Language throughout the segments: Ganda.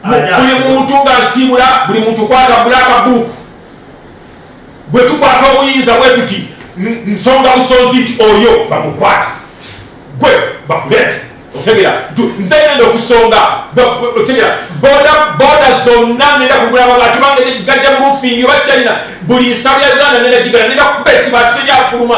buli muntu nga nsiibula buli muntu kwata bulaka buuku bwe tukwata obuyinza bwe tuti nsonga busonzi nti oyo bamukwata gwe bakuleeta otegera nze ngenda okusonga otegera boda boda zonna ngenda kugula amabaati bange negajja mu rufingi oba china buli nsabya uganda ngenda gigala ngenda kuba ekibaati teryafuluma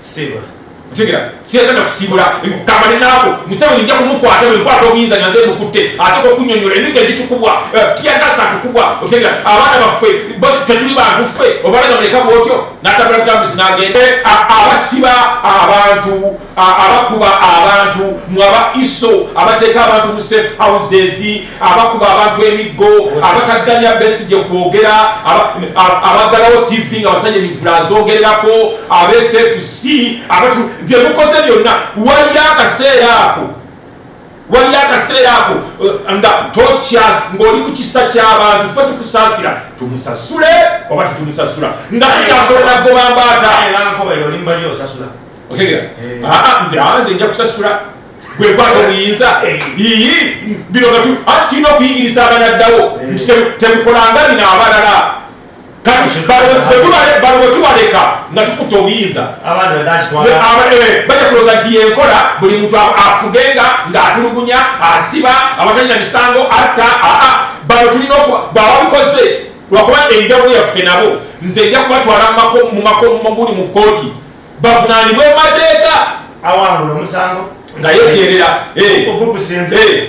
sibula otegera siyagenda kusibula kamba nenaako museveni nja kumukwata bwenkwata obuyinza nyaze mukutte ate kokunyonyola emika egitukubwa eh, tiyagasa tukubwa otegera abaana baffe tetuli bantu ffe obalaga muleka bwotyo natabula butambuzi nagende abasiba abantu abakuba abantu mwaba iso abateeka abantu mu safe houses abakuba abantu emiggo abakaziganya besigye kwogera abaggalawo tv nga basajja emivula azogererako absfc abatu byemukoze byonna waliyo akaseera ako waliyo akaseera ako eh, nga tokya ng'oli ku kisa ky'abantu fe tukusaasira tumusasule oba tetumusasula nga tukyasobola gobambaata otegera eh. ah, ah, nze ah, nze nja kusasula gwekwata obuyinza iyi bino gatu ati tulina okuyigiriza abanaddawo nti temukolanga bino abalala kati balo bwetubaleka nga tukuta obuyinza eh, baja kuloza nti yenkola buli muntu afugenga ngaatulugunya asiba abatalina misango atta aa bano tulina bwababikoze lwakuba enjawulo yaffe nabo nze nja kubatwala mu makomaguli mu kooti bavunaanibwe mu mateeka awangula omusango nga yeterera eh. eh.